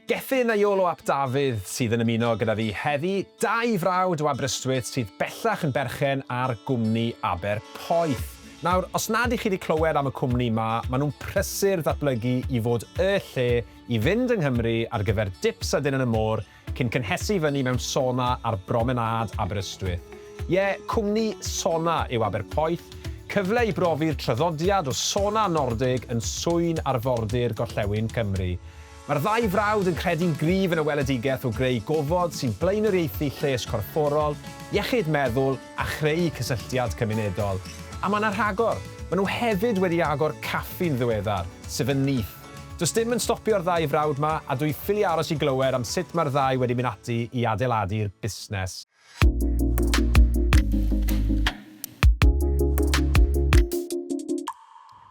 Gethin a Iolo ap Dafydd sydd yn ymuno gyda fi heddi, dau frawd o Aberystwyth sydd bellach yn berchen ar gwmni Aber Poeth. Nawr, os nad y'ch chi 'di clywed am y cwmni 'ma, ma' nhw'n prysur ddatblygu i fod y lle i fynd yng Nghymru ar gyfer dips a dinner y môr cyn cynhesu i fyny mewn sona ar bromenâd Aberystwyth. Ie, cwmni Sona yw Aberpoeth, cyfle i brofi'r traddodiad o Sona Nordig yn swyn arfordir gorllewin Cymru. Mae'r ddau frawd yn credu'n gryf yn y weledigaeth o greu gofod sy'n blaenoriaethu lles corfforol, iechyd meddwl a chreu cysylltiad cymunedol. A mae 'na rhagor! Maen nhw hefyd wedi agor caffi'n ddiweddar, sef yn nyth. Does dim yn stopio'r ddau frawd 'ma a dwi ffili aros i glywed am sut mae'r ddau wedi mynd ati i adeiladu'r busnes.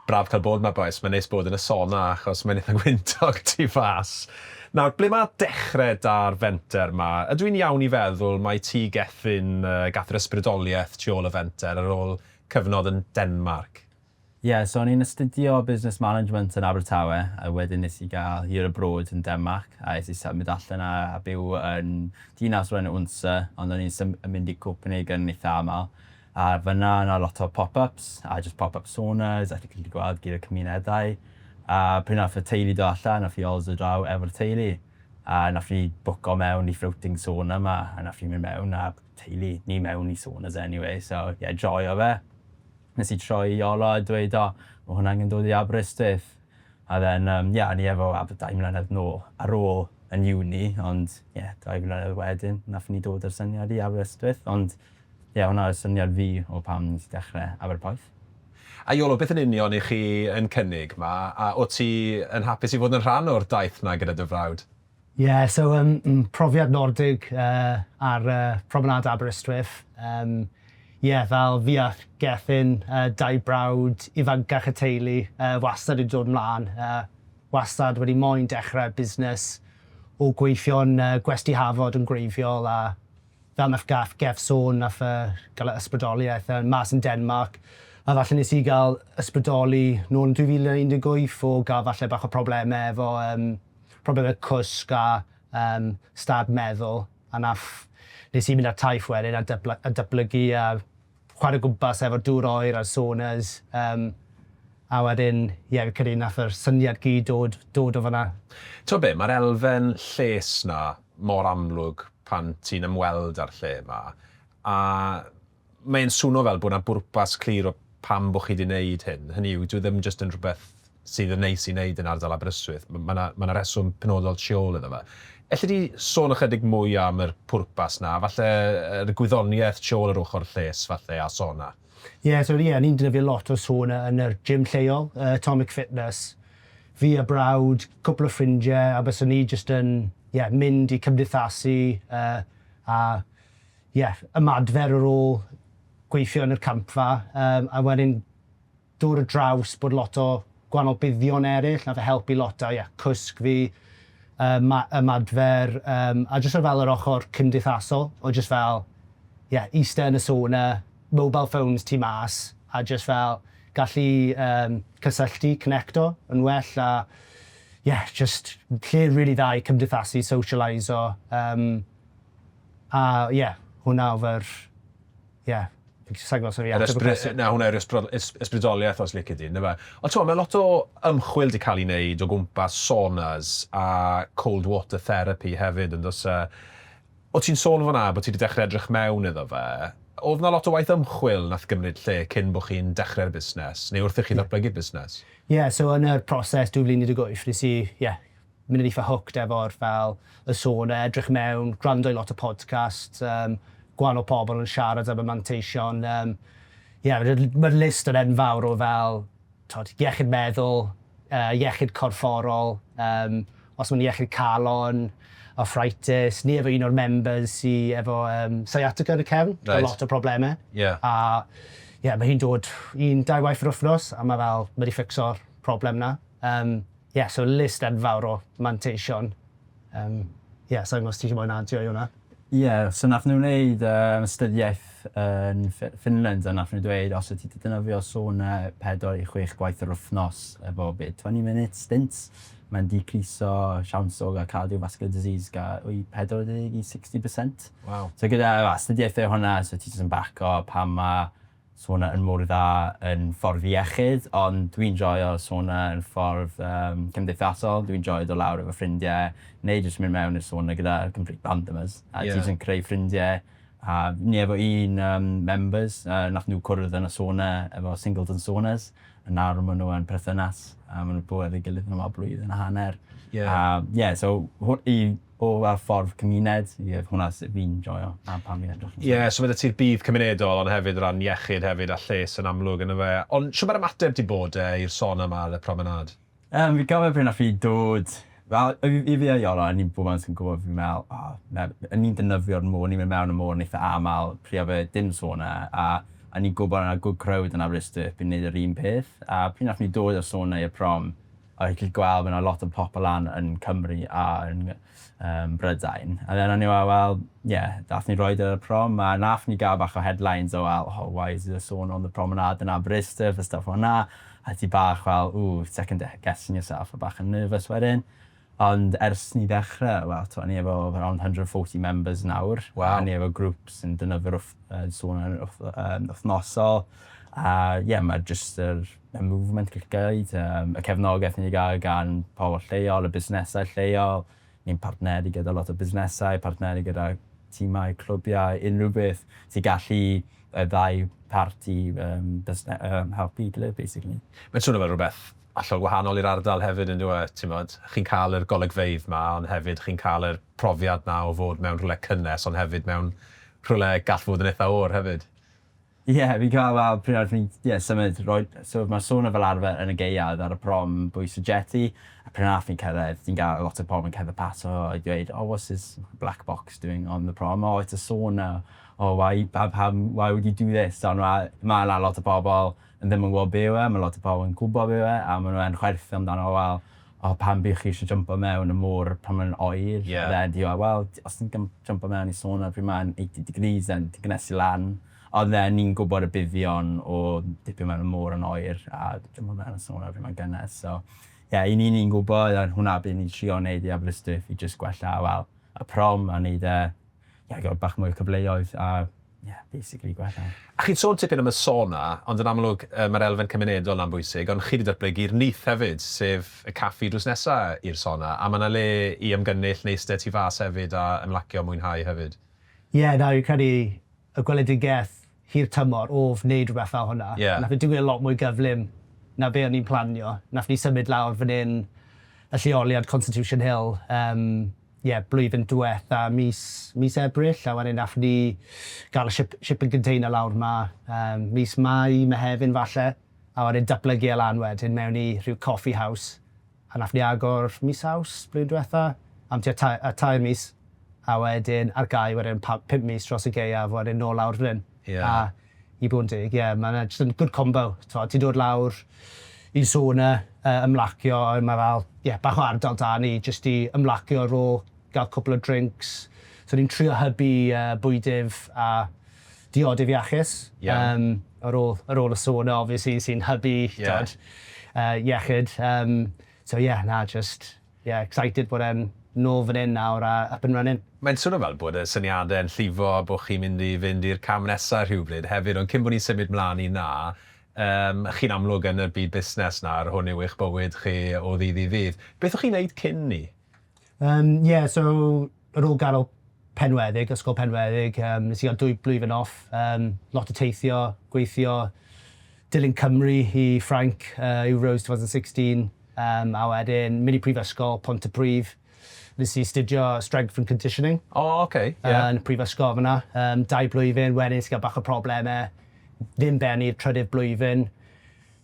Braf cael bod yma bois, mae'n neis bod yn y sona achos mae'n eitha gwyntog tu fas. Nawr, ble mae dechrau da'r fenter yma? Ydw i'n iawn i feddwl mai ti Gethin, gath yr ysbrydoliaeth tu ôl y fenter ar ôl cyfnod yn Denmarc? Ie, so o'n i'n astudio Business Management yn Abertawe a wedyn nes i gael year abroad yn Denmarc a es i symud allan a byw yn dinas o'r enw Odense ond o'n i'n yn mynd i Copenhagen yn eitha aml a fan'na o' 'na lot o pop-ups a jyst pop-up saunas a chi'n gallu gweld gyd o'r cymunedau a pryd nath y teulu dod allan nath Yoz dod draw efo'r teulu a nath ni bwco mewn i floating sauna 'ma a nath ni mynd mewn â'r teulu ni mewn i saunas anyway so ie joio fe. nes i troi i Ola a dweud o, ma hwn angen dod i Aberystwyth. A then yym ie o'n i efo Aber dau mlynedd nôl ar ôl yn uni ond ie dau flynedd wedyn nathon ni dod â'r syniad i Aberystwyth ond ie hwnna oedd syniad fi o pam nes i dechre Aberpoeth. A Iolo beth yn union i chi yn cynnig ma a wt ti yn hapus i fod yn rhan o'r daith na gyda dy frawd? Ie, so yym m- profiad Nordig yy ar yy Promenade Aberystwyth. Yym ie, fel fi a Gethin, y dau brawd ifancach y teulu, yy wastad wedi dod 'mlan, yy wastad wedi moyn dechrau busnes o gweithio'n yy gwesty Hafod yn gwreiddiol a fel nath Gath Geth sôn nath yy gael y ysbrydoliaeth yy mas yn Denmarc a falle nes i gael ysbrydoli nôl yn 2018 o gael falle bach o problemau efo yym problemau cwsg a yym stad meddwl a nath nes i mynd ar taith wedyn a dybla- a datblygu a chware o gwmpas efo'r dŵr oer a'r saunas yym a wedyn ie fi'n credu nath yr syniad gyd dod dod o fan'na. T'o' be', ma'r elfen lles 'na mor amlwg pan ti'n ymweld â'r lle 'ma a mae'n swno fel bod yna bwrpas clir o pam bod chi wedi gwneud hyn. Hynny yw, dyw e ddim jyst yn rhywbeth sydd yn neis i wneud yn ardal Aberystwyth. Mae yna, mae yna reswm penodol tu ôl iddo fe. Elli di sôn ychydig mwy am yr pwrpas yna, falle yr gwyddoniaeth tu ôl yr ochr lles, falle, a sauna? Ie, so ie, ni'n defnyddio lot o sauna yn yr gym lleol, yy Atomic Fitness. Fi a brawd, cwpl o ffrindie, a bysen ni jyst yn, ie, mynd i cymdeithasu yy a ie, ymadfer ar ôl gweithio yn yr campfa, yym, a wedyn dod ar draws bod lot o gwahanol buddion eryll, nath e helpu lot a ie, cwsg fi, yy, ma- ymadfer, yym, a jyst o fel yr ochor cymdeithasol, o jyst fel, ie, iste yn y sauna, mobile phones tu mas, a jyst fel gallu, yym, cysylltu, connecto, yn well, a ie, jyst lle rili dda i cymdeithasu, socialaiso, yym. A ie, hwnna oedd yr... ie, fi'n gallu saglo, sori, ateb y cwestiwn. Na, hwnna yw'r ysbrydoliaeth os lici di, yndyfe? Ond ti'n gwybod, mae lot o ymchwil wedi cael ei wneud o gwmpas saunas a cold water therapy hefyd, yn does e? O ti'n sôn fan'na bod ti wedi dechrau edrych mewn iddo fe, oedd yna lot o waith ymchwil wnaeth gymryd lle cyn bod chi'n dechrau'r busnes, neu wrth i chi ddatblygu'r busnes? Ie, so yn y proses 2018, nes i, ie, mynd yn eitha hooked efo'r fel y sôn a edrych mewn, gwrando i lot o podcasts yym gwahanol pobl yn siarad am y manteision yym ie ma'r ma'r list yn enfawr o fel t'od iechyd meddwl yy iechyd corfforol yym os ma'n iechyd calon, arthritis, ni efo un o'r members sy efo yym sciatica yn y cefn Reit. ma' lot o probleme. Ie. A ie ma' hi'n dod un dau waith yr wthnos a ma' fel ma' 'di fficso'r problem 'na. Yym. Ie, so list enfawr o manteision. Yym, ie, sa i'n gwbod os ti isie mwy na adio i hwnna. Ie, so nath nhw wneud yym astudiaeth yn Ffi- Finland a nath nhw dweud os wyt ti 'di defnyddio sauna pedwar i chwech gwaith yr wythnos efo be, twenty minute stints, mae'n decreaso siawns o gael cardiovascular disease ga- i pedwar deg i sixty percent. Waw. So gyda astudiaethau hwnna so ti jyst yn baco pam ma' sauna yn mor dda yn ffordd iechyd ond dwi'n joio sauna yn ffordd cymdeithasol, dwi'n joio dod lawr efo ffrindiau neu jyst mynd mewn i'r sauna gyda complete randomers a ti jyst yn creu ffrindiau a o'n i efo un yym members yy nath nhw cwrdd yn y sauna efo Singleton Saunas a nawr ma' nhw yn perthynas a ma' nhw 'di bod efo'i gilydd am y blwyddyn a hanner a ie so hw- i o fel ffordd cymuned, ie, hwnna sut fi'n joio a pam fi'n edrych yn y lle. Ie, so ma' 'da ti'r budd cymunedol ond hefyd o ran iechyd hefyd a lles yn amlwg yndyfe? A, ond shwt ma'r ymateb 'di bod de i'r sôn yma ar y promenâd? Yym, fi'n cofio pryd nath fi dod, wel, i fi i fi a Iolo, a ni bob amser yn gwbod fi'n me'wl, o, na, o'n ni'n defnyddio'r môr, o'n ni'n mynd mewn y môr yn eitha amal, pryd o'dd e dim sôn 'na, a o'n ni'n gwbod o' 'na good crowd yn Aberystwyth, fi'n neud yr un peth, a pryd nath ni dod â'r sôn 'na i'r prom, Fel chi'n gallu gweld mae 'na lot o popeth lan yn Cymru a yn yym Brydain. A then o'n i fel wel ie nath ni roid e ar y prom a nath ni ga'l bach o headlines o fel oh why is there a sauna on the promenade in Aberystwyth a stwff fel 'na a ti bach fel ooh second de- guessing yourself a bach yn nervous wedyn. Ond ers ni ddechre wel t'mo' ni efo around hundred and forty members nawr. Waw. A ni efo grŵp sy'n defnyddio'r wth- yy sauna yn wth- yym wythnosol a ie ma' jyst yr y movement ga'l gneud yym y cefnogaeth ni 'di ga'l gan pobol lleol y busnesau lleol ni'n partneru gyda lot o busnesau partneru gyda timau clwbiau unrhyw beth sy gallu y ddau parti yym busne- yym helpu 'i gilydd basically. Mae'n swno fel rwbeth hollol wahanol i'r ardal hefyd on'd yw e? T'mod? Chi'n ca'l yr golygfeydd 'ma ond hefyd chi'n ca'l yr profiad 'na o fod mewn rhwle cynnes ond hefyd mewn rhwle gall fod yn itha oer hefyd. Ie, fi'n cael fel pryd arall fi'n ie symud roi- so ma' sauna fel arfer yn y gaeaf ar y prom bwys y jetty a pryd arall fi'n cyrraedd fi'n gael lot o pobl yn cerdded pas o i dweud oh what's this black box doing on the prom oh it's a sauna oh why pa- pam why would you do this ond ma' ma' 'na lot o pobl yn ddim yn gwbod be' yw e ma' lot o pobl yn gwbod be' yw e a ma' n'w yn chwerthin amdano fo fel o pam bych chi eisiau jympo mewn y môr pan mae'n oer? Yeah. A then he went, well, os ti'n gym- jympo mewn i sauna pryd mae'n 80 degrees then ti'n cynnesu lan. Ond then ni'n gwybod y buddion o dipio mewn y môr yn oer a jympo mewn y sauna pryd mae'n gynnes. So, ie, yeah, i ni ni'n gwybod a hwnna beth ni'n trio wneud i Aberystwyth i jyst gwella, wel, y prom a wneud e ie, gael bach mwy o cyfleoedd a ie, basically gwella. A chi'n sôn tipyn am y sauna, ond yn amlwg mae'r elfen cymunedol 'na'n bwysig, ond chi 'di datblygu'r nyth hefyd, sef y caffi drws nesa' i'r sauna, a mae 'na le i ymgynnull neu iste tu fas hefyd a ymlacio a mwynhau hefyd. Ie, na, fi'n credu y gweledigaeth hir tymor o wneud rhywbeth fel hwnna. Ie. Wnaeth e digwydd yn lot mwy gyflym na be o'n i'n planio. Wnaethon ni symud lawr fan hyn, y lleoliad Constitution Hill, yym, ie, blwyddyn diwetha', mis, mis Ebrill, a wedyn wnaethon ni gael y ship- shipping container lawr 'ma, yym, mis Mai, Mehefin falle, a wedyn datblygu e lan wedyn mewn i rhyw coffee house. A nathon ni agor mis Awst blwyddyn dwetha am tua ta- yy tair mis a wedyn ar gau wedyn pa- pump mis dros y gaeaf a wedyn nôl lawr fan 'yn. Ie. A i bod yn deg ie ma' 'na jyst yn good combo t'mod ti'n dod lawr i'n sauna yy ymlacio a wedyn ma' fel ie bach o ardal 'da ni jyst i ymlacio ar ôl ga'l cwpwl o drincs so ni'n trio hybu yy bwydydd a diodydd iachus. Iawn. Ar ôl, ar ôl y sôn 'na obviously sy'n hybu... Ie. ...t'od yy iechyd yym so ie na jyst ie excited bod e'n nôl fan 'yn nawr a up and running. Mae'n swnio fel bod y syniade yn llifo a bo' chi'n mynd i fynd i'r cam nesa rhywbryd hefyd ond cyn bo' ni'n symud mlan i 'na yym chi'n amlwg yn y byd busnes nawr hwn yw eich bywyd chi o ddydd i ddydd. Beth o'ch chi'n neud cyn 'ny? Yym, ie, so ar ôl gadael Penweddig, Ysgol Penweddig, yym, nes i gael dwy blwyddyn off, yym, lot o teithio, gweithio, dilyn Cymru i Ffrainc, yy, Euros 2016, yym, a wedyn mynd i Prifysgol Pontypridd, nes i astudio Strength and Conditioning. O, ok, ie. Yy, yn y Prifysgol fan'na, yym, dau blwyddyn, wedyn nes i gael bach o problemau, ddim bennu i'r trydydd blwyddyn,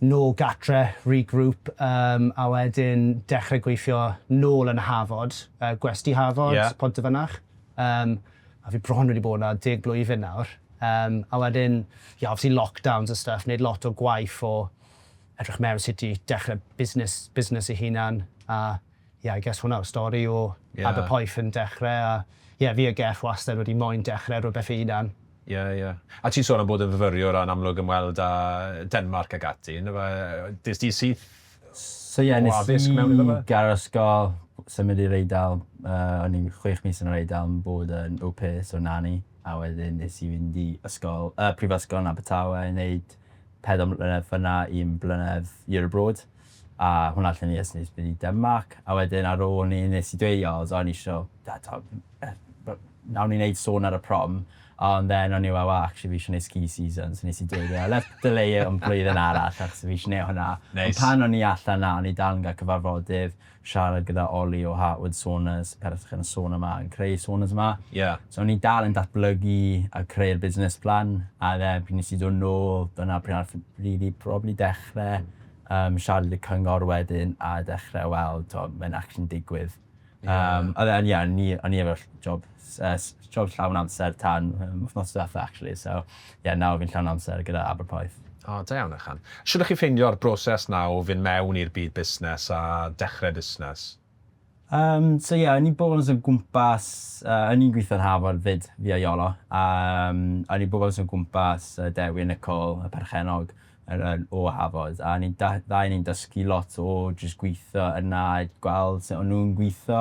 nôl gatre, regroup, yym a wedyn dechre gweithio nôl yn y Hafod, yy gwesty Hafod... Ie. ...Pontyfynach, yym a fi bron wedi bod 'na deg blwyddyn nawr, yym a wedyn ie obviously lockdowns a stuff, neud lot o gwaith o edrych mewn sut i dechre busnes busnes ei hunan a Ie, I guess hwnna yw stori o Aberpoeth yn dechrau a ie, fi a Geff wastad wedi moyn dechrau rhywbeth fy hunan. Ie, ie. A ti'n sôn am bod yn fyfyriwr a'n amlwg ymweld â Denmarc ac ati, yndyfe? Des di syth o addysg mewn iddo fe? So ie, nes i gadael ysgol, symud i'r Eidal, o'n i'n chwech mis yn yr Eidal yn bod yn au pair, so nanny, a wedyn nes i fynd i ysgol, prifysgol yn Abertawe i wneud pedwar mlynedd fan'na, un blynedd year abroad. a hwnna allan i ers nes pryd a marc a wedyn ar ôl ni nes i dweud o o'n i isio da t'o' nawn ni neud sôn ar y prom ond then o'n i fel wel actually fi isio neud ski season so nes i dweud e a let's delay it am blwyddyn arall achos fi isio neud hwnna. Neis. Ond pan o'n i allan 'na o'n i dal yn ga'l cyfarfodydd siarad gyda Oli o Heartwood Saunas perchen y sôn yma yn creu saunas yma. Ie. So o'n i dal yn datblygu a creu'r busnes plan a then pryd nes i do' nôl dyna pryd nath rili probably dechre yym siarad y cyngor wedyn a dechre weld t'o' mae'n actually'n digwydd. Ie. Yym a then ie o'n i o'n i efo'r ll- job s- yy s- job llawn amser tan yym wthnos dwetha actually so ie nawr fi'n llawn amser gyda Aberporth. O da iawn ychan. Shwd o'ch chi'n ffeindio'r broses 'na o fyn' mewn i'r byd busnes a dechre busnes? Yym so ie o'n i'n boros o gwmpas yy o'n i'n gwitho'n Harvard 'fyd fi a Iolo a yym o'n i'n boros o gwmpas yy Dewi a Nicole y perchennog yr yy o Harvard a o'n ni'n da- ddau o ni'n dysgu lot o jyst gwitho yna a gweld sut o'n nw'n gwitho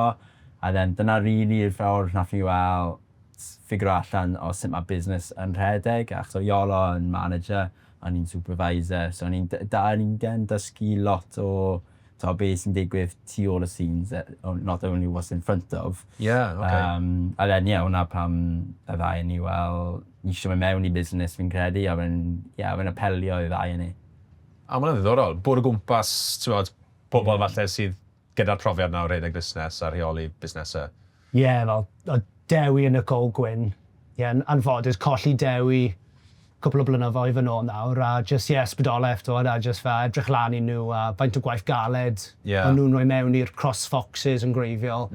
a then dyna rili y ffordd nath ni wel' s- ffigyro allan o sut ma' busnes yn rhedeg achos o' Iolo yn manager a o'n i'n supervisor so o'n i'n d- da o'n i'n gen dysgu lot o t'o' be' sy'n digwydd tu ôl y scenes yy o- not only what's in front of. Ie oce. Yym a then ie 'wna pam y ddau o ni wel ni isio myn' mewn i busnes fi'n credu a fe'n ie a fe'n apelio i'r ddau o ni. A ma' wnna'n ddiddorol. Bwrw gwmpas t'mod pobol falle sydd gyda'r profiad 'na o redeg fusnes a rheoli busnese. Ie, fel, o, Dewi yn y Coed Gwyn. Ie, yn anffodus, colli Dewi cwpl o blynyddoedd yn ôl nawr, a jyst, ie, ysbrydoliaeth, t'mod, a jyst fel edrych lan i nhw, a faint o gwaith galed o'n nhw'n rhoi mewn i'r Cross Foxes yn gwreiddiol,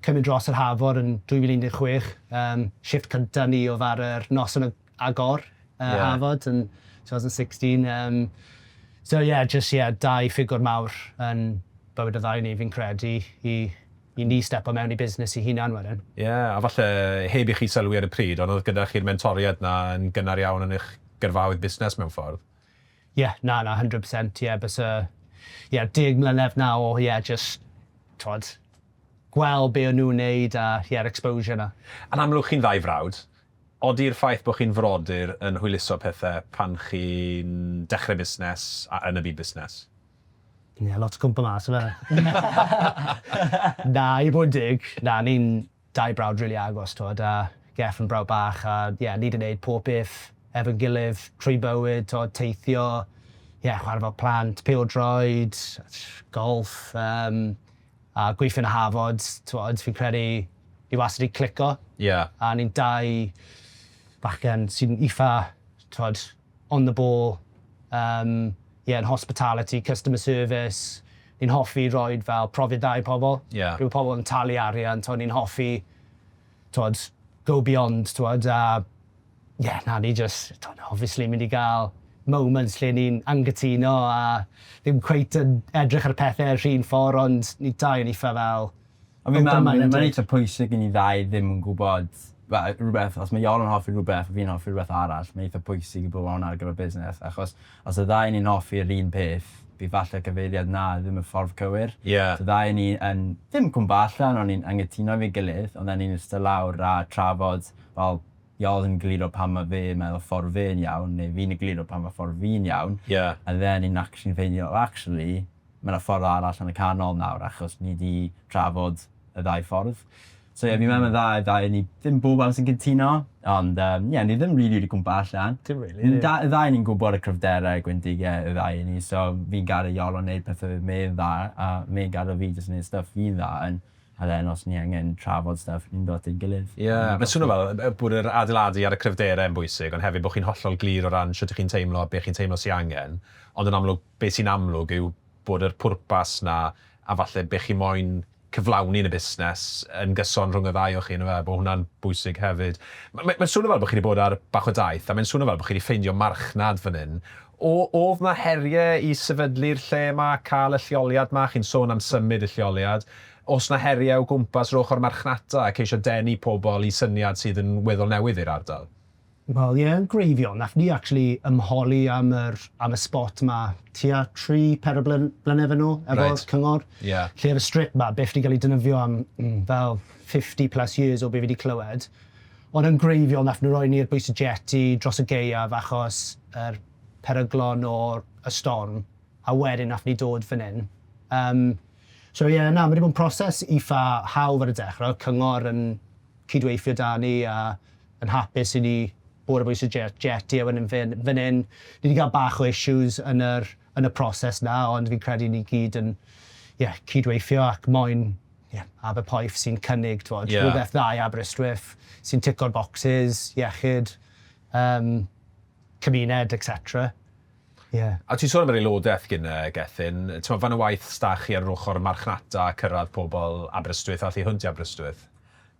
cymryd dros yr Hafod yn 2016, yym, shifft cynta ni oedd ar yr noson y agor yy Harvard yn 2016 yym so ie jyst ie dau ffigwr mawr yn bywyd y ddau o ni fi'n credu i i ni stepo mewn i busnes i hunan wedyn. Ie a falle heb i chi sylwi ar y pryd ond oedd gyda chi'r mentoriad 'na yn gynnar iawn yn eich gyrfaoedd busnes mewn ffordd? Ie na na 100 percent ie byse ie deg mlynedd 'na o ie jyst t'wod gweld be' o'n nhw'n neud a ie'r exposure 'na. Yn amlwg chi'n ddau frawd, Ydi'r ffaith bod chi'n frodyr yn hwyluso pethau pan chi'n dechrau busnes a yn y byd busnes? Ie, lot o cwympo mas yfe? Na, i fod yn deg, na, ni'n dau brawd rili agos, t'mod, a Geff yn brawd bach a ie, ni 'di neud pob peth efo'n gilydd trwy bywyd, t'mod, teithio, ie, chwarae fel plant, pêl-droed, golff, yym. A gweithio yn y Hafod, t'mod, fi'n credu ni wastad 'di clico. Ie. A ni'n dau bachgen sy'n itha, t'mod, on the ball, yym, ie, yn hospitality, customer service. Ni'n hoffi roid fel profiad dda i pobl. Ie. Pryd ma' pobl yn talu arian, t'mod, ni'n hoffi t'wod, go beyond t'wod a ie na ni jyst t'wod obviously mynd i ga'l moments lle ni'n anghytuno a ddim cweit yn edrych ar y pethe yr un ffor ond ni dau yn itha fel Ond fi'n meddwl mae'n mae'n eitha pwysig i ni ddau ddim yn gwybod fel rhywbeth os mae Iona'n hoffi rhywbeth a fi'n hoffi rhywbeth arall mae'n eitha pwysig i bod fel 'na ar gyfer busnes achos Os y ddau o ni'n hoffi yr un peth, bydd falle cyfeiriad 'na' ddim y ffordd cywir. Ie. Os y ddau o ni yn, ddim cwmpa allan, ond ni'n anghytuno efo'n gilydd, ond then ni'n ista lawr a trafod, wel, Iol yn egluro pam ma' fe yn meddwl ffordd fe'n iawn, neu fi'n egluro pam ma' ffordd fi'n iawn. Ie. And then ni'n actually'n ffeindio, wel, actually, Mae yna ffordd arall yn y canol nawr achos ni 'di trafod y ddau ffordd. So ie, fi'n meddwl mae'n dda i'r ddau o ni, ddim bob amser yn cytuno, ond yym ie, ni ddim rili wedi cwmpo allan. Dim rili. Ni da- y ddau o ni'n gwybod y cryfderau gwendidau y ddau o ni, so fi'n gadael Iolo wneud pethe fydd Mei'n dda a Mei'n gadael fi jyst wneud stwff fi'n dda yn, a then os ni angen trafod stwff ni'n dod at ein gilydd. Ie, mae'n swno fel yy bod yr adeiladu ar y cryfderau yn bwysig ond hefyd bod chi'n hollol glir o ran shwt 'ych chi'n teimlo a be' chi'n teimlo sy angen, ond yn amlwg Be sy'n amlwg yw bod yr pwrpas 'na, a falle be chi moyn cyflawni yn y busnes, yn gyson rhwng y ddau o chi on'd yfe? Bod hwnna'n bwysig hefyd. M- m- mae'n swnio fel bod chi 'di bod ar bach o daith, a mae'n swnio fel bod chi 'di ffeindio marchnad fan hyn. O- o'dd 'na herie i sefydlu'r lle 'ma, ca'l y lleoliad 'ma, chi'n sôn am symud y lleoliad, o's 'na herie o gwmpas yr ochor marchnata a ceisio denu pobol i syniad sydd yn weddol newydd i'r ardal? Wel ie yn gwreiddiol, nath ni actually ymholi am yr am y spot 'ma tua tri, pedwar bly- blynedd yn ôl efo... Reit. ...cyngor. Ie. Lle o'dd y strip 'ma byth 'di ga'l ei defnyddio am mm fel fifty plus years o be' fi 'di clywed. Ond yn gwreiddiol nath nw roi ni'r bys y jeti dros y gaeaf achos yr peryglon o y storm a wedyn nath ni dod fyn 'yn. Yym so ie na ma' 'di bod yn proses itha hawdd ar y dechre, o'dd cyngor yn cydweithio 'da ni a yn hapus i ni bod ar bwys y jet jet ie wedyn fyn fyn hyn ni di cael bach o issues yn yr yn y proses na ond fi'n credu ni gyd yn ie cyd-weithio ac moyn ie Aberpoeth sy'n cynnig t'wod yeah. rhywbeth dda i Aberystwyth sy'n tico'r bocsys iechyd um, cymuned etc. Yeah. A ti'n sôn am yr aelodaeth gyn uh, Gethin, ti'n fan y waith stach chi ar yr ochr marchnata a cyrraedd pobl Aberystwyth a allu hwnt i Aberystwyth?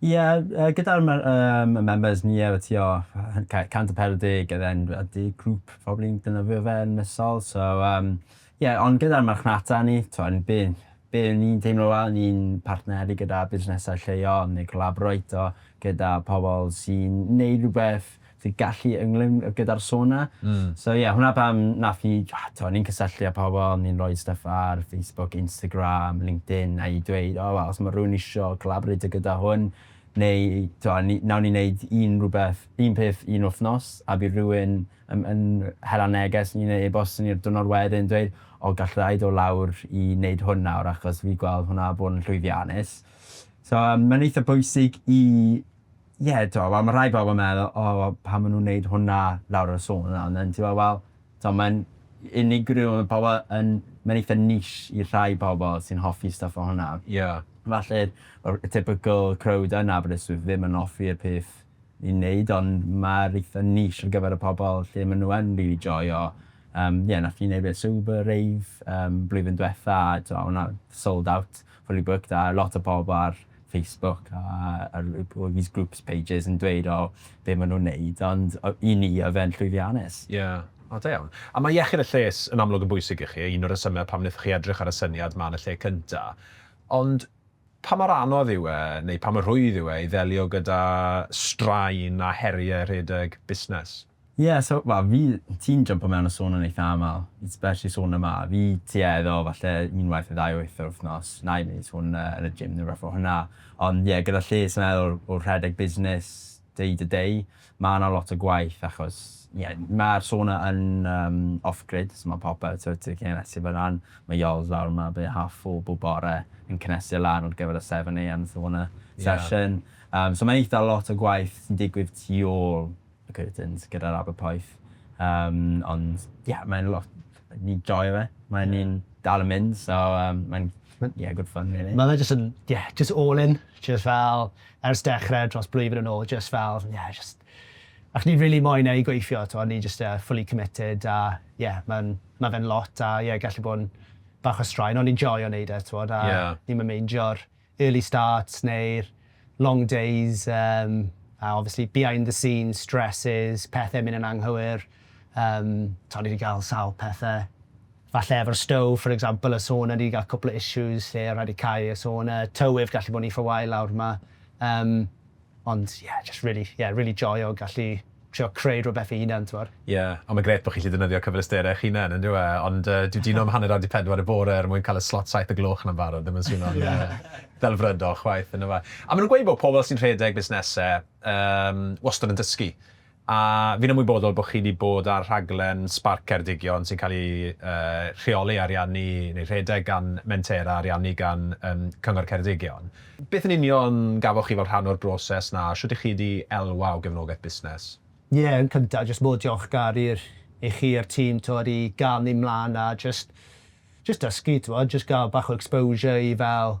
Ie yy gyda'r mer- yym y members ni yy tua hy- ca- cant a pedwar deg and then a deg grŵp probably yn defnyddio fe yn misol so yym ie ond gyda'r marchnata ni t'wo' n- be' be' ni'n teimlo fel ni'n partneru gyda busnesau lleol neu collaboreito gyda pobol sy'n neud rwbeth dy gallu ynglŷn gyda'r sauna. So ie, hwnna pam wnaeth hi, tibod, o'n i'n cysylltu â pobl, o'n i'n rhoi stwff ar Facebook, Instagram, LinkedIn, a i dweud, o wel, os mae rhywun isio colaboreitio gyda hwn, neu, tibod, ni, wnawn ni wneud un rhywbeth, un peth un wythnos, a bydd rhywun yn, yn hela neges i ni neu e-bost i ni'r diwrnod wedyn yn dweud, o, galla i ddod lawr i wneud hwn nawr achos fi gweld hwnna bod yn llwyddiannus. So, mae'n eitha pwysig i, ie t'mo' wel ma' rhai pobol yn meddwl o wel pam ma' nw'n neud hwnna lawr y sôn yna on' then ti me'wl wel t'mo' ma'n unigryw ma' pobol yn ma'n eitha niche i rhai pobol sy'n hoffi stwff fel hwnna. Ie. Falle'r yr y typical crowd yn Aberystwyth ddim yn offi'r peth ni'n neud on' ma'r eitha niche ar gyfer y pobol lle ma' nw yn rili joio yym ie nath ni neud e Sober Rave yym blwyddyn dwetha a t'mo' o' 'na sold out, fully booked a lot o pobol ar Facebook a ar all these groups pages yn dweud o be maen nhw'n neud ond i ni oedd e'n llwyddiannus. Ie. O da iawn. A mae iechyd a lles yn amlwg yn bwysig i chi, un o'r rhesymau pam wnaethoch chi edrych ar y syniad 'ma yn y lle cynta'. Ond pa mor anodd yw e, neu pa mor rhwydd yw e i ddelio gyda straen a heriau rhedeg busnes? Ie so wel fi, ti'n jympo mewn a sôn yn eitha aml, especially sôn yma, fi tua iddo falle unwaith neu ddau wyth yr wythnos, nai neud sôn yy yn y gym ne' rwbeth o hwnna, ond ie gyda lles yn meddwl o rhedeg busnes day to day ma' 'na lot o gwaith achos ie ma'r sauna yn yym off grid so ma' popeth so ti gallu neud e fyn 'na, ma' Yoz lawr yma byti half four bob bore yn cynhesu e lan ar gyfer y seven AM sauna session yym so ma' eitha lot o gwaith sy'n digwydd tu ôl y curtains gyda'r aber poeth. Um, ond, ie, yeah, mae'n lot... Ni'n joio fe. Mae'n yeah. ni'n dal yn mynd, so um, mae'n yeah, good fun, really. Mae fe just yn, yeah, just all in. Just fel, ers dechrau dros blwyddyn yn ôl, just fel, yeah, just... Ac ni'n really moyn ei gweithio, to, ni'n just uh, fully committed, a yeah, mae'n ma fe'n lot, a yeah, gallu bod yn bach o straen, ond ni'n joio neud e, to, a yeah. ni'n mynd meindio early starts neu'r long days yym a obviously behind the scenes stresses, pethe myn' yn anghywir yym t'od ni 'di ga'l sawl pethe falle efo'r stove for example y sauna ni 'di ga'l cwpwl o issues lle o' raid i fi cau y sauna, tywydd gallu bo' ni for while lawr 'ma yym Ond ie, jyst rili, ie, rili joio gallu trio creu rhywbeth fy hunan, t'mod? Ie, ond mae'n grêt bod chi'n gallu defnyddio cyfleusterau eich hunain, yn dyw e? Ond dwi dino am hanner awr 'di pedwar y bore er mwyn cael y slot saith y gloch 'na'n barod, ddim yn swno'n ddelfrydol chwaith, yndyfe? A maen nhw'n gweud bod pobl sy'n rhedeg busnesau wastad yn dysgu. A fi'n ymwybodol bod chi 'di bod ar rhaglen Sbarc Ceredigion sy'n cael ei rheoli, ariannu neu rhedeg gan Mentera, ariannu gan Cyngor Ceredigion. Beth yn union gafoch chi fel rhan o'r broses 'na, a shwt 'ych chi 'di elwa o gefnogaeth busnes? Ie, yn cynta, jyst mor diolchgar i'r i chi a'r tîm t'wod i ga'l ni mlan a jyst jyst dysgu t'wod, jyst ga'l bach o exposure i fel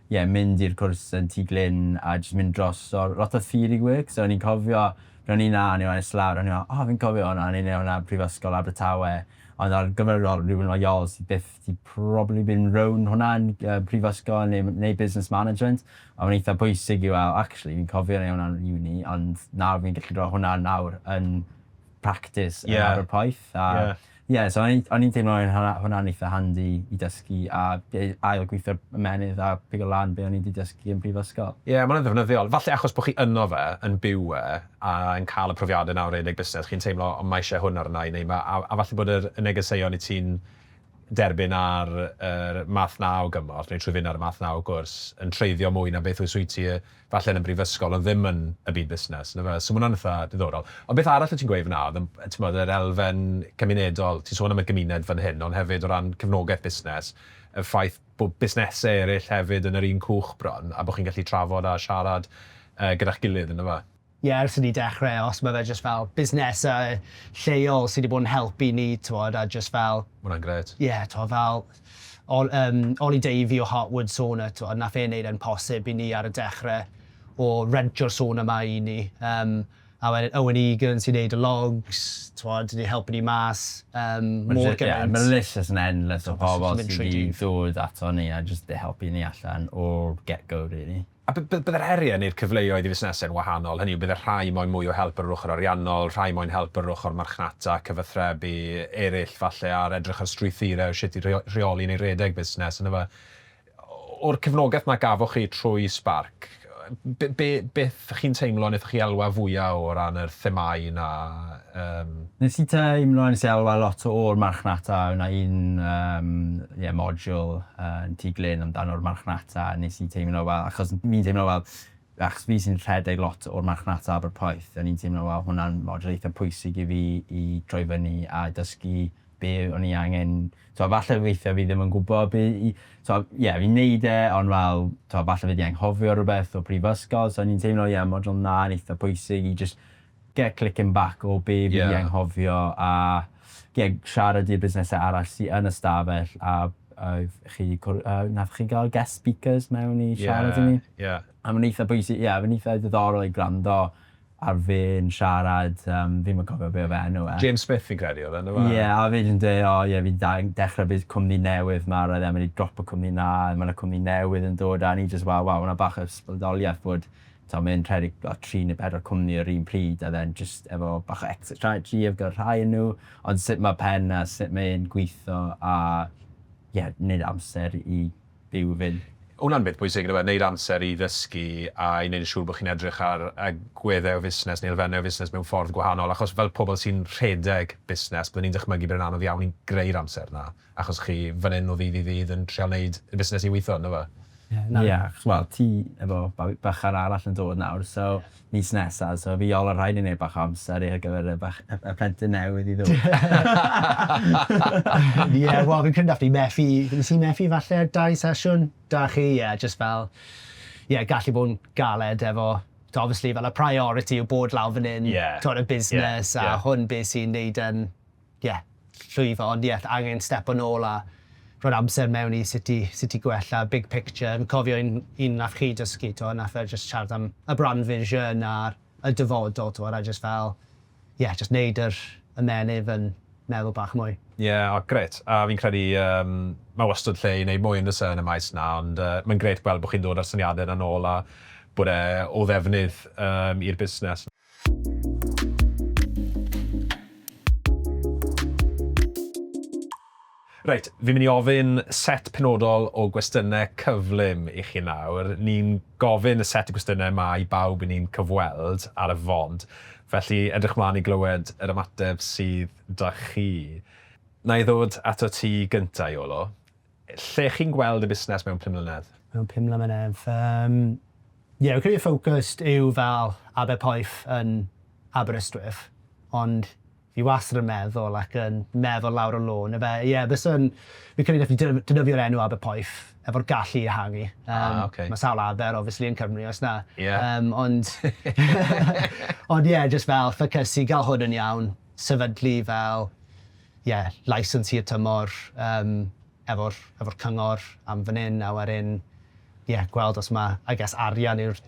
ie, mynd i'r cwrs yn Tŷ Glyn a jyst mynd dros o lot o theory work. So o'n i'n cofio pryd o'n i 'na, o'n i lan islaw, o'n i fel o fi'n cofio hwnna, o'n i'n neud hwnna Prifysgol Abertawe. Ond ar gyfer fel rywun fel Yol sy byth 'di probably been rown hwnna yn yy prifysgol ne' m- neu business management a ma'n eitha pwysig i wel actually fi'n cofio neu' hwnna yn uni ond nawr fi'n gallu ro' hwnna nawr yn practis... Ie. ...yn ar y poeth a... Ie. Ie, so o'n i'n teimlo oedd hwnna'n eitha' handi i dysgu a ail gweithio'r ymennydd a pigo lan be' o'n i 'di dysgu yn prifysgol. Ie, ma' hwnna'n ddefnyddiol. Falle achos bo' chi ynddo fe, yn byw e a yn cael y profiade 'na o redeg busnes, chi'n teimlo o ma' isie hwn arna i neu ma' a a falle bod yr y negeseuon i ti'n derbyn ar yr math 'na o gymorth neu trwy fynd ar y math 'na o gwrs yn treiddio mwy na beth wyt ti falle yn y brifysgol ond ddim yn y byd busnes yndyfe? So ma' hwnna'n eitha' diddorol. Ond beth arall wyt ti'n gweud fan'na oedd y t'mod yr elfen cymunedol, ti'n sôn am y gymuned fan hyn ond hefyd o ran cefnogaeth busnes, y ffaith bod busnesau eraill hefyd yn yr un cwch bron a bod chi'n gallu trafod a siarad yy gyda'ch gilydd yndyfe? Ie ers i ni dechre os ma' fe jyst fel busnese lleol sy 'di bod yn helpu ni t'mod a jyst fel... Ma' wnna'n grêt. ...ie t'mod fel Ol- yym Oli Davey o Heart Wood Sauna t'mod nath e neud e'n posib i ni ar y dechre o rentio'r sauna 'ma i ni yym a wedyn Owen Egan sy'n neud y logs t'mod 'di helpu ni mas yym mor gymaint. Ie ma' list jyst yn endless o pobol sy 'di dod ato ni a jyst 'di helpu ni allan o'r get go rili. A by- by- byddai'r heriau neu'r cyfleoedd i fusnesau'n wahanol, hynny yw, byddai rhai moyn mwy o help ar yr ochr ariannol, rhai moyn help ar yr ochr marchnata, cyfathrebu, eraill falle ar edrych ar strwythurau o sut i rheo- rheoli neu redeg busnes, yndyfe? O'r cefnogaeth 'na gafoch chi trwy Sparc, b- be- beth chi'n teimlo wnaethoch chi elwa fwya' o ran yr themâu 'na? Yym. Nes i teimlo nes i elwa lot o'r marchnata o' 'na un yym ie module yn Tŷ Glyn amdano'r marchnata a nes i teimlo fel achos fi'n teimlo fel achos fi sy'n rhedeg lot o'r marchnata Aberporth o'n i'n teimlo wel hwnna'n module eitha pwysig i fi i troi fyny a dysgu be' o'n i angen t'wo' falle weithie fi ddim yn gwbo be' i t'wo' ie fi'n neud e on' fel t'wo' falle fi 'di anghofio rwbeth o prifysgol so o'n i'n teimlo ie module 'na'n eitha pwysig i jyst Ie, clicking back o be fi di anghofio a ie, siarad i'r busnesau arall sy yn y stafell a oedd chi, wnaethoch chi gael guest speakers mewn i siarad i ni? Ie, ie. A mae'n eitha bwysig, ie, mae'n eitha diddorol i gwrando ar fe'n siarad, fi'm yn cofio be oedd enw e. James Smith fi'n credu oedd e, yndyfe? Ie, a oedd e jyst yn dweud, o ie, fi di dechrau cwmni newydd 'ma, roedd e'n mynd i dropo cwmni 'na, mae 'na cwmni newydd yn dod a o'n i jyst fel, waw, ma' 'na bach o ysbrydoliaeth bod Tibod, mae e'n rhedeg fel tri neu bedwar cwmni yr un pryd a then jyst efo bach o exit strategy gyda rhai o nhw, ond sut mae pen a sut mae e'n gweithio a ie, wneud amser i fyw i fynd. Hwnna'n beth pwysig yndyw e, wneud amser i ddysgu a i wneud yn siŵr bod chi'n edrych ar agweddau o fusnes neu elfennau o fusnes mewn ffordd gwahanol, achos fel pobl sy'n rhedeg busnes, byddwn i'n dychmygu bod e'n anodd iawn i greu'r amser 'na. Achos chi fan hyn o ddydd i ddydd yn trial neud y busnes i weitho, ynddo fe? Ie, na, ie, achos wel, ti efo babi bychan arall yn dod nawr, so mis nesa, so fi ol a rhaid i neud bach o amser i ar gyfer y bach- y y plentyn newydd i ddod. Ie, wel fi'n credu nath ni methu, nes i methu falle ar dau sesiwn 'da chi, ie, jyst fel, ie, gallu bod yn galed efo, t'o' obviously fel y priority yw bod lawr fan 'yn... Ie. ...t'od y busnes... Ie, ie. ...a hwn be' sy'n neud e'n ie, llwyddo ond ie, angen stepo nôl a rhoi'r amser mewn i sut i sut i gwella, big picture. Fi'n cofio un un nath chi dysgu t'mo' nath e jyst siarad am y brand vision a'r y dyfodol t'mod a jyst fel ie jyst neud yr ymennydd yn meddwl bach mwy. Ie, o grêt. A fi'n credu yym ma' wastad lle i neud mwy on'd o's e yn y maes 'na ond yy mae'n grêt gweld bo' chi'n dod â'r syniade 'na nôl a bod e o ddefnydd yym i'r busnes. Reit, fi'n mynd i ofyn set penodol o gwestiynau cyflym i chi nawr. Ni'n gofyn y set o gwestiynau yma i bawb i ni'n cyfweld ar y fond, felly edrych mlaen i glywed yr ymateb sydd 'da chi. Wna i ddod ato ti gynta', Iolo. Lle chi'n gweld y busnes mewn pum mlynedd? Mewn pum mlynedd? Yym, ie, fi'n credu y ffocws yw fel Aberpoeth yn Aberystwyth, ond fi wastad yn meddwl ac yn meddwl lawr y lôn, ife? Ie, byswn, fi'n credu wnaethon ni defnyddio'r enw Aberpoeth efo'r gallu i ehangu. Ah, um, okay. Mae sawl aber, obviously, yn Cymru, os na. Yeah. Um, ond, ond ie, yeah, just fel ffocysu, gael hwn yn iawn, sefydlu fel ie, licence hir tymor yym efo'r efo'r cyngor am fan 'yn a wedyn ie, gweld os ma' I guess arian yw'r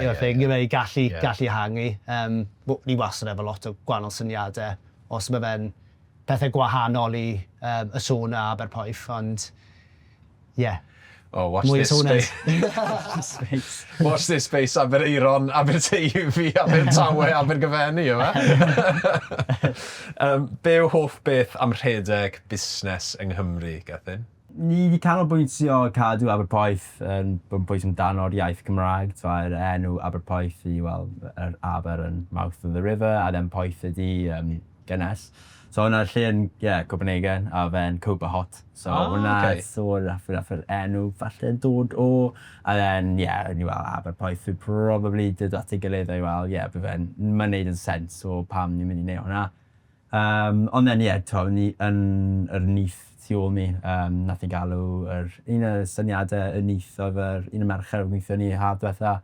yw'r thing yw e i gallu gallu ehangu. Yym w- ni wastad efo lot o gwahanol syniade os ma' fe'n pethe gwahanol i yym y sauna a Aberporth ond Ie. Oh watch Mwy this space. space. Watch this space Aberaeron, Aberteifi, Abertawe, Abergyfenni yma. um, be yw hoff beth am rhedeg busnes yng Nghymru, Gethin? Ni wedi canolbwyntio cadw Aberpoeth yn um, bwys amdano'r iaith Gymraeg. Mae'r enw Aberpoeth i, wel, yr aber yn mouth of the river, a then poeth ydi um, Gynnes. So hwnna lle yn ie Copenhagen a fe'n Cobra Hot. So hwnna... O ok. ...so nath nath yr enw falle dod o a then ie o'n i fel Aberporth fi probably dod at ei gilydd a i fel ie by' fe'n ma'n neud yn sense o pam ni'n mynd i neu' hwnna. Yym ond then ie t'o' o'n i yn yr nyth tu ôl mi yym nath ni galw yr un o syniade y nyth odd yr un y mercher odd yn gwithio ni haf dwetha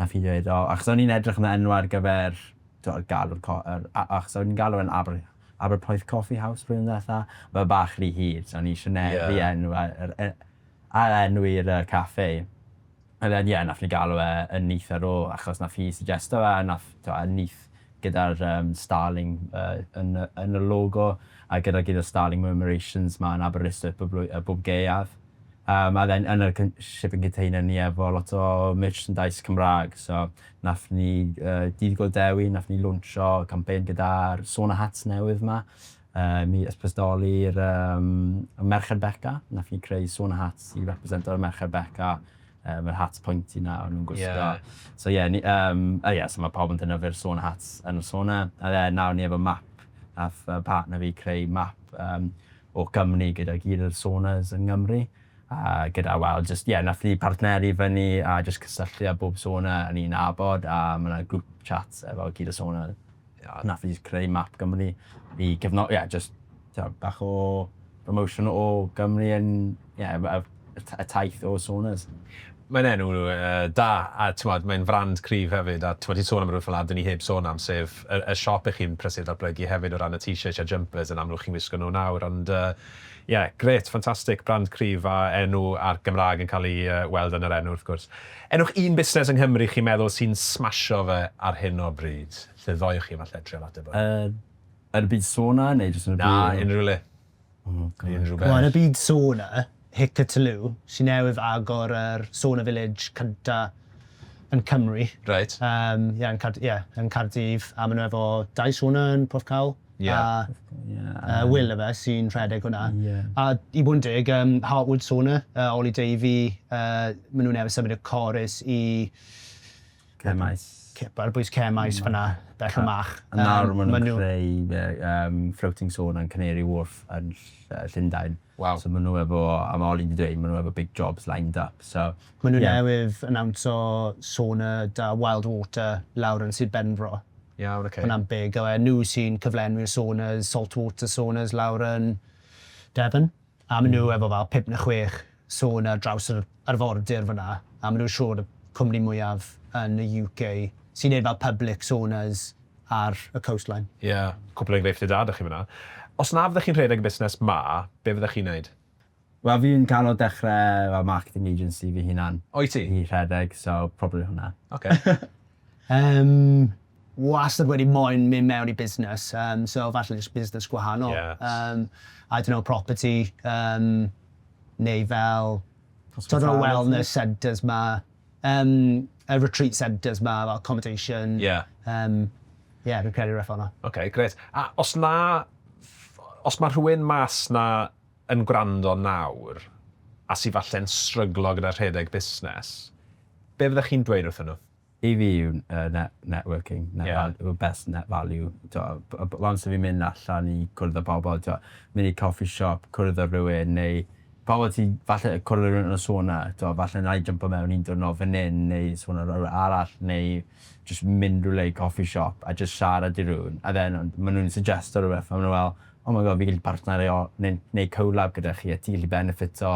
nath hi dweud o achos o'n i'n edrych am enw ar gyfer T'wod galw'r co- yr a- achos o'n i'n galw e'n Aber Aberpoeth Coffee House blwyddyn ddwetha. Mae o bach rhy hir so o'n i isio ne- Ie. ...rhienw a- yr e- ail-enw i'r yy caffi. A then ie nathon ni galw e y Nyth ar ôl achos nath hi suggesto fe a nath t'wo' y nyth gyda'r yym starling yy yn y yn y logo a gyda gyd y starling murmurations 'ma yn Aberystwyth bob blwy- yy bob gaeaf. Yym a then yn y con- shipping container ni efo lot o merchandise Cymra'g so Nath ni yy Dydd Gŵyl Dewi nath ni lawnsio campaign gyda'r sauna hats newydd 'ma yy mi ysbrydoli'r yym y Merched Beca nath ni creu sauna hats i represento y Merched Beca yym yr hats pointy 'na o'n nw'n gwisgo. Ie. So ie ni yym a ie so ma' pawb yn defnyddio'r sauna hats yn y sauna a ie nawr ni efo map nath yy partner fi creu map yym o Gymru gyda gyd o'r saunas yng Ngymru. A gyda wel jyst ie nath ni partneru fyny a jyst cysylltu â bob sauna o'n i'n nabod a ma' 'na grŵp chats efo gyd y sauna a nath ni jyst creu map Gymru i cefno- ie jyst t'o' bach o promotion o Gymru yn ie a yy y t- y taith o saunas. Mae'n enw yy da a t'mod mae'n frand cryf hefyd a t'mod ti'n sôn am rwbeth fel 'a dwn i heb sôn am sef y y siop 'ych chi'n prysur datblygu hefyd o ran y t-shirts a'r jumpers yn amlwg chi'n wisgo nw nawr ond yy Ie, grêt, ffantastig, brand cryf a enw a'r Gymraeg yn cael ei weld yn yr enw wrth gwrs. Enwch un busnes yng Nghymru chi'n meddwl sy'n smasho fe ar hyn o bryd, lle ddoewch chi falle trial ateb hwn? Yn y byd sona neu jyst yn y byd? Na, unrhyw le. Unrhyw beth. Wel, yn y byd sona, Hickataloo, sy newydd agor yr Sona Village cynta yn Cymru. Reit. Ie, yn Caerdydd a maen nhw efo dau sona yn Porthcawl. Ie. A yy Will efe sy'n rhedeg hwnna. Ie. A i bod yn deg yym Hartwood Sauna yy Oli Davey yy ma' nhw newydd symud y Corris i... Cemmaes. Ce- ar bwys Cemmaes fan'na bell o Mach. A nawr ma' nhw'n creu yy yym floating sauna yn Canary Wharf yn ll- yy Llundain. Waw. So ma' nhw efo, a ma' Oli'n di dweud, ma' nhw efo big jobs lined up, so ie. Ma' nhw newydd anawnsio Sona da Wild Water lawr yn Sir Benfro. Iawn, ocê. Hwnna'n big, a wedyn nhw sy'n cyflenwi'r Sonas, salt water Sonas lawr yn Devon, a ma' nhw efo fel pump neu chwech Sona ar draws yr arfordir fan'na, a ma' nhw siŵr y cwmni mwyaf yn y UK sy'n neud fel public Sonas ar y coastline. Ie, cwpl o engreifftiau da 'da chi fan'na. Os na fyddech chi'n rhedeg y busnes 'ma, be fyddech chi'n neud? Wel fi'n cano dechre fel marketing agency fy hunan. O wyt ti? I rhedeg, so probably hwnna. Ocê. Yym, wastad wedi moyn mynd mewn i busnes, yym so falle jyst busnes gwahanol. Ie. Yym, I don't know, property, yym neu fel... Hospitality? ...t'od y wellness centres 'ma. Yym, y retreat centres 'ma, fel accommodation. Ie. Yym, ie, fi'n credu rywbeth fel 'na. Ocê, grêt. A os na ff-, os ma' rhywun mas 'na yn gwrando nawr, a sy falle'n stryglo gyda rhedeg busnes, be' fyddech chi'n dweud wrthyn nhw? I fi yw yy net- networking, net val- Ie. yw'r best net value. T'wod, b- b- once 'yf fi'n mynd allan i cwrdd â pobl, t'wod, mynd i coffee shop, cwrdd â rhywun, neu Pam wyt ti, falle y cwrlirwn yn sôn na, t'mo' falle na'i jympo mewn un diwrnod fan 'yn neu sôn ar rywle arall neu jyst mynd rywle i coffi shop a jyst siarad i rywun a then ond ma' nw'n suggesto rwbeth a ma' nw fel oh my god fi'n gallu partnerio neu neu co-lab gyda chi a ti'n gallu benefito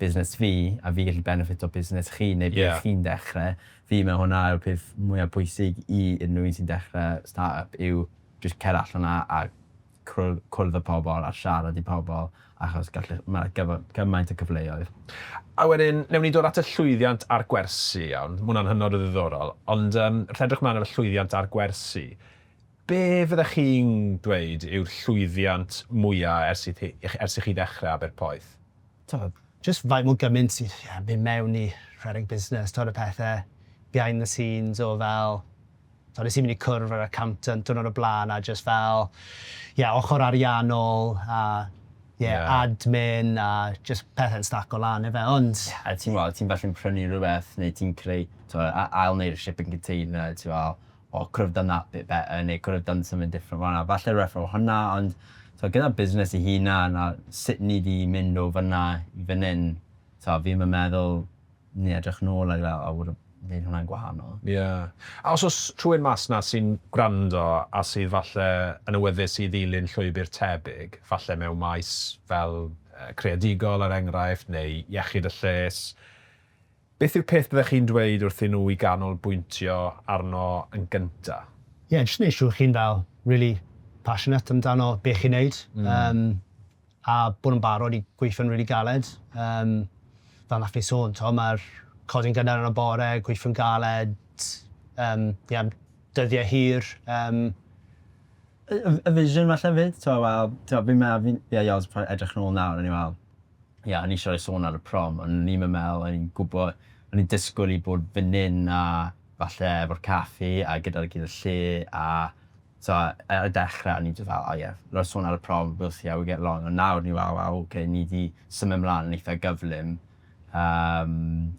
busnes fi a fi'n gallu benefito busnes chi neu be' chi'n dechre. Fi'n me'wl hwnna yw'r peth mwya pwysig i unrhyw un sy'n dechre start-up yw jyst cer allan a a cwrdd â pobl a siarad i pobl achos gall... mae gymaint o cyfleoedd. A wedyn, newn ni dod at y llwyddiant a'r gwersi, iawn? Mae hwnna'n hynod o ddiddorol. Ond yym, wrth edrych mlaen ar y llwyddiant a'r gwersi, be fyddech chi'n dweud yw'r llwyddiant mwya' ers i chi ers i chi ddechrau Aber Poeth? Tibod, jyst faint mor gymaint sy'n, ie, mynd mewn i rhedeg busnes, tibod, y pethe behind the scenes o fel Tibod, wnes i mynd i cwrdd â'r accountant diwrnod o blaen a jyst fel, ie, ochr ariannol a ie, admin a jyst pethau'n staco lan ife, ond... Ie, a ti'n gwybod, ti'n falle'n prynu rhywbeth neu ti'n creu, tibod, ail-wneud shipping container, ti'n fel, o, could have done that bit better neu could have done something different fan'na. Falle rhywbeth fel hwnna, ond tibod, gyda busnes ei hunan a sut ni 'di mynd o fan'na i fan hyn, tibod, fi ddim yn meddwl Ni edrych nôl ar fe a bod neud hwnna'n gwahanol. Ie. A os o's rhywun mas 'na sy'n gwrando a sydd falle yn awyddus i ddilyn llwybr tebyg, falle mewn maes fel creadigol er enghraifft neu iechyd a lles, beth yw'r peth byddech chi'n dweud wrthyn nhw i ganolbwyntio arno yn gynta? Ie, jyst neu' siŵr chi'n fel rili passionate amdano be' chi'n neud. Yym. A bod nhw'n barod i gweithio'n rili galed. Yym, fel wnaeth fi sôn, t'mo', mae'r codi'n gynnar yn y bore, gweithio'n galed, yym, ie, am dyddiau hir, yym. Y, y, y vision falle 'fyd, t'mo', wel, t'mo', fi'n meddwl, fi'n, ie, Yoz, pan edrych nôl nawr, o'n i fel, ie, o'n i eisiau rhoi sôn ar y prom, ond o'n i'm yn meddwl, o'n i'n gwybod, o'n i'n disgwyl i bod fan hyn a falle efo'r caffi a gyda'r gyda lle a So ar y dechre o'n i jyst fel oh yeah fel sôn ar y prom we'll see how we get along ond nawr ni fel waw ok ni 'di symud mlan yn eitha gyflym yym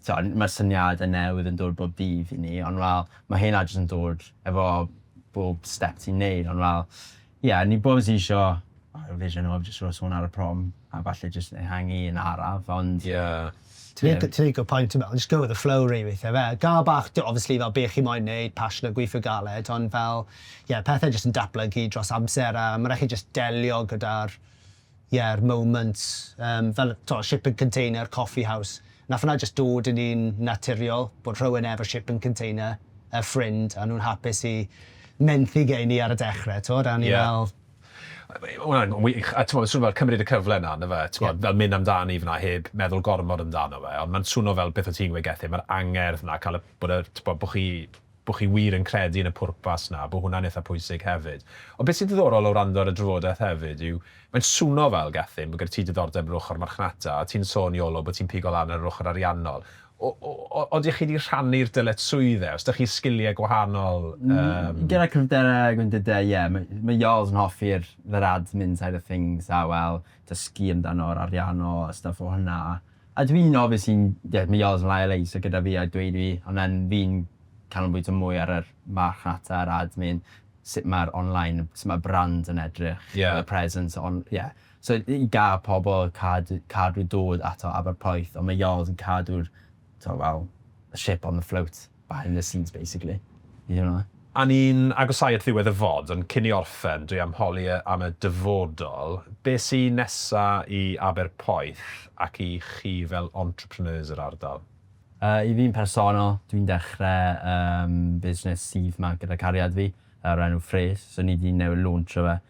t'o' n- ma'r syniade newydd yn dod bob dydd i ni ond fel ma' hynna jyst yn dod efo bob step ti'n neud ond fel ie o'n i bob jys isio Yr vision of jyst roi sŵn ar y prom a falle jyst ehangu un araf ond... Ie. Ti'n lico point ti'n meddwl, just go with the flow rili weithie ife? Gael bach d- obviously fel be' chi moyn neud, passion a gweithio galed ond fel ie pethe jyst yn datblygu dros amser a ma' raid chi jyst delio gyda'r ie'r moments yym fel t'o' shipping container, coffee house. Nath wnna jyst dod yn un naturiol bod rhywun efo shipping container, y ffrind a nhw'n hapus i menthu gen i ar y dechre t'wod a o'n i fel... Ie. Mae hwnna'n wych, a t'mod, ma'n swnio fel cymryd y cyfle 'na, on'd yfe? T'mod... Ie. ...fel myn' amdani f'na heb meddwl gormod amdano fe, ond ma'n swno fel beth o' ti'n gweud Gethin, ma'r angerdd 'na, ca'l y, bod y, t'bo' bo' chi, bo' chi wir yn credu yn y pwrpas 'na, bo' hwnna'n itha pwysig hefyd. Ond be' sy'n ddiddorol o wrando ar y drafodeth hefyd yw, mae'n swno fel, Gethin, bo' gyda ti diddordeb yn yr ochor marchnata, a ti'n sôn, Iolo, bo' ti'n pigo lan ar yr ochor ariannol, Odych chi wedi rhannu'r dyletswydd e? Os dych chi sgiliau gwahanol yym... Gyda cryfderau a gwendidau ie, mae Yoz yn hoffi'r yr admin side of things a wel dysgu amdano'r arianno a stwff o hwnna a dwi'n obvious i'n ie mae Yoz yn lai o lei so gyda fi a dweud fi ond then fi'n canolbwyntio mwy ar yr marchnata yr admin sut mae'r online sut mae'r brand yn edrych ie y presence ond ie So yn gall pobl cadw cadw dod ato aber poeth ond mae Jarls yn cadw'r t'o' fel y ship on the float behind the scenes basically. You know? A ni'n agosáu at ddiwedd y fod ond cyn i orffen dwi am holi yy am y dyfodol, be' sy nesa i aber poeth ac i chi fel entrepreneurs yr ardal? Yy i fi'n personol dwi'n dechre yym busnes syth 'ma gyda cariad fi o'r enw Frês so ni 'di newydd lawnsio fe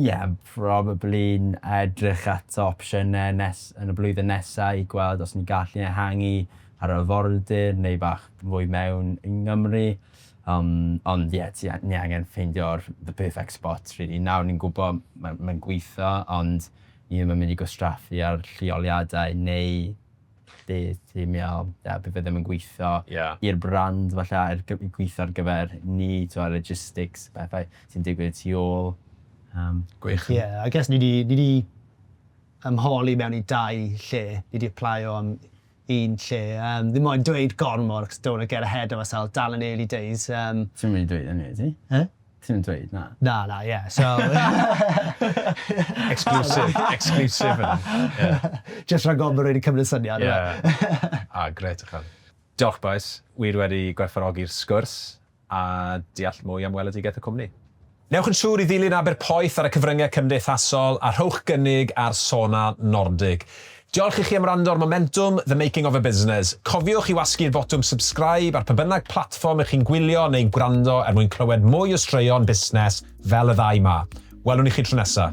Ie, probably yn edrych at opsiynau nes- yn y blwyddyn nesaf i gweld os ni'n gallu ehangu ar yr arfordir neu bach fwy mewn i Nghymru. Yym, ond ie, ti a- ni angen ffeindio'r the perfect spot rili. Nawr ni'n gwybod ma- mae'n gweithio ond ni ddim yn mynd i gwastraffu ar lleoliadau neu lle ti'n meddwl, ie, bydd e ddim yn gweithio i'r brand falle, er gweithio ar gyfer ni, tibod, logistics, pethau sy'n digwydd y tu ôl. Gwych. Ie, I guess ni wedi ymholi mewn i dau lle, ni wedi aplaio am un lle, ddim moyn dweud gormod, cos don't want to get ahead of ourselves, dal yn early days. Ti'm yn mynd i dweud hynny, wyt ti? Yy? Ti ddim yn dweud, na? Na, na, ie. Yeah. So... exclusive, exclusive. Yeah. Just rhag ofn bod wedi cymryd syniad. Yeah. ah, gret o chan. Diolch, boys. Wir wedi gwerthfarogi'r sgwrs a deall mwy am weledigaeth y cwmni. Newch yn siŵr i ddilyn Aberpoeth ar y cyfryngau cymdeithasol a rhowch gynnig ar Sona Nordig. Diolch i chi am wrando ar Momentwm, The Making of a Business. Cofiwch i wasgu'r botwm subscribe ar pa bynnag platfform y'ch chi'n gwylio neu'n gwrando er mwyn clywed mwy o straeon busnes fel y ddau 'ma. Welwn i chi tro nesa.